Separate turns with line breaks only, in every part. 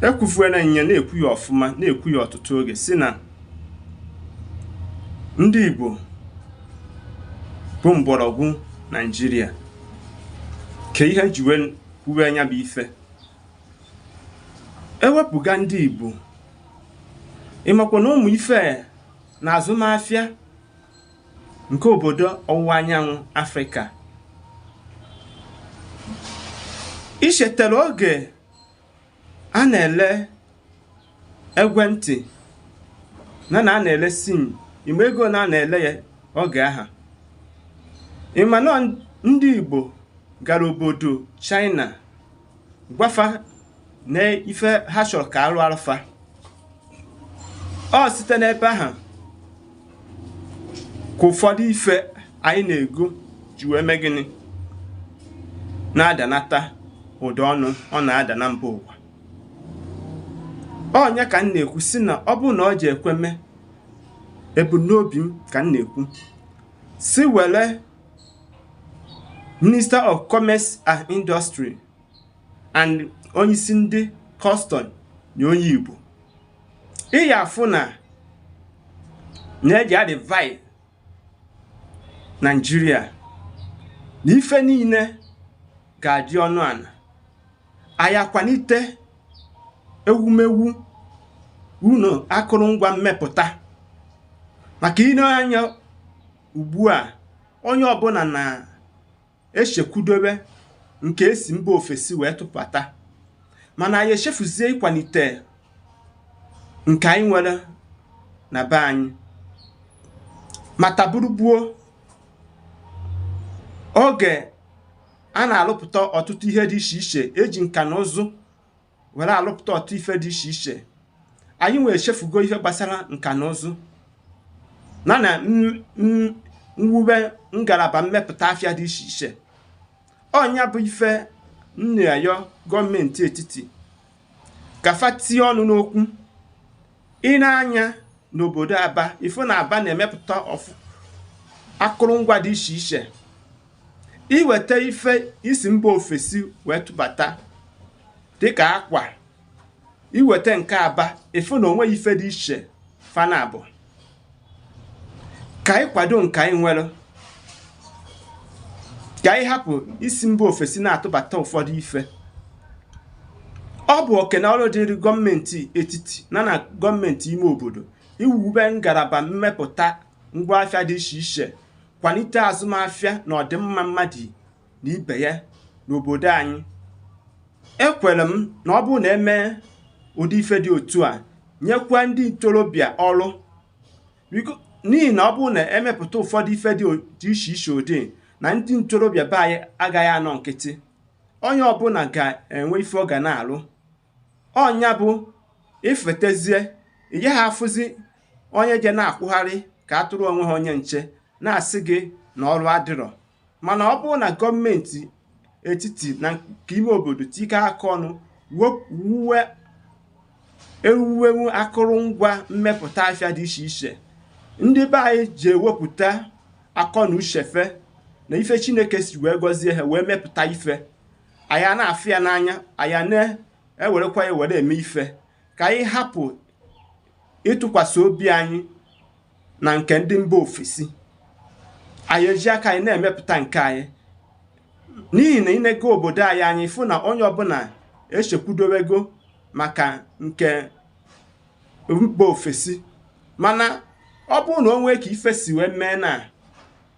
ekwufuena nya na-ekwu ya ọfụma na-ekwu ya ọtụtụ oge si na ndị Igbo bụ mgbọrọgwụ Naijiria ka ihe m ji wee kwuwe nya bụ ife e wepụga ndị Igbo ị makwa na ụmụ ife na azụmafịa nke obodo ọwụwa anyanwụ afrịka i chetara oge a na-ele ekwentị na na a na-ele sim ị ma ego na a na-ele ya oge aha ị ma na ndị igbo gara obodo china gwa fa na ife ha chọrọ ka a rụarụ fa o site n'ebe ahụ ka ụfọdụ ife anyị na-ego ji wee mee gịnị na-adanata ụdị ọnụ ọ na-ada na mba ụwa ọ nya ka m na-ekwu si na ọ bụrụ na ọ ji ekwe mee ebumnobi m ka m na-ekwu si were Minister of Commerce and Industry and onyeisi ndị custom nye onye Igbo ị ya-afụ na e ji a-revive Naijiria na ife niile ga-adị ọnụ ana anyị akwanite ewumewu ụnọ akụrụngwa mmepụta maka i nee anya ugbu a onye ọbụla na-echekwudobe nke e si mba ofesi wee tụpụta mana anyị echefuzie ịkwanite nke anyị nwere na be anyị mataburu gboo oge a na-alụpụta ọtụtụ ihe dị iche iche e ji nka na ụzụ were alụpụta ọtụtụ ife dị iche iche anyị wee chefugo ife gbasara nka na ụzụ na na mwube ngalaba mmepụta afịa dị iche iche ọ nya bụ ife m na-ayọ gọọmenti etiti ka fa tie ọnụ n'okwu i nee anya n'obodo aba ị fụ na aba na-emepụta ife akụrụngwa dị iche iche i weta ife e si mba ofesi wee tụbata dịka akwa i weta nke aba ị fụ na o nweghị ife dị iche fa naabọ ka anyị kwado nke anyị nwere ka anyị hapụ isi mba ofesi na-atụbata ụfọdụ ife ọ bụ oke na ọrụ dịrị gọọmenti etiti na na gọọmenti ime obodo iwube ngalaba mmepụta ngwaafịa dị iche iche kwanite azụmafịa na ọdịmma mmadụ na ibe ya n'obodo anyị ekwere m na ọ bụrụ na e mee ụdị ife dị otu a nyekwa ndị ntorobịa ọrụ n'ihi na ọ bụrụ na e mepụta ụfọdụ ife dị iche iche ụdị na ndị ntorobịa be anyị agaghị anọ nkịtị onye ọbụla ga-enwe ife ọ ga na-alụ ọ nya bụ ị fụtazie ị gaghị afụzi onye je na-akwụgharị ka atụrụ enweghị onye nche na-asị gị na ọrụ adịrọ mana ọ bụrụ na gọọmenti etiti na nke ime obodo tikọ aka ọnụ wuwe ewuwewu akụrụngwa mmepụta afịa dị iche iche ndị be anyị ji ewepụta akọ na uche fa na ife chineke si wee gọzie ha wee mepụta ife anyị na-afụ ya n'anya anyị na-ewerekwa ya were eme ife ka anyị hapụ ịtụkwasị obi anyị na nke ndị mba ofesi anyị eji aka anyị na-emepụta nke anyị n'ihi na ị nego obodo anyị anyị fụ na onye ọbụla echekwudowego maka nke mba ofesi mana ọ bụrụ na o nwee ka ife si wee mee na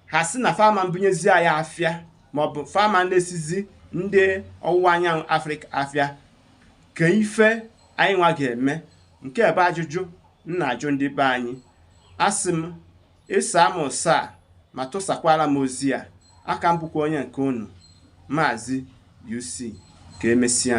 ha sị na fa ama ebunyezi anyị afịa maọbụ fa ama na-esizi ndị ọwụwa anyanwụ afrịka afịa kee ife anyị nwa ga-eme nke a bụ ajụjụ m na-ajụ ndị be anyị asị m ị saa m ụsa a ma tụsakwara m ozi a aka m bụkwa onye nke unu maazị UC ka emesịa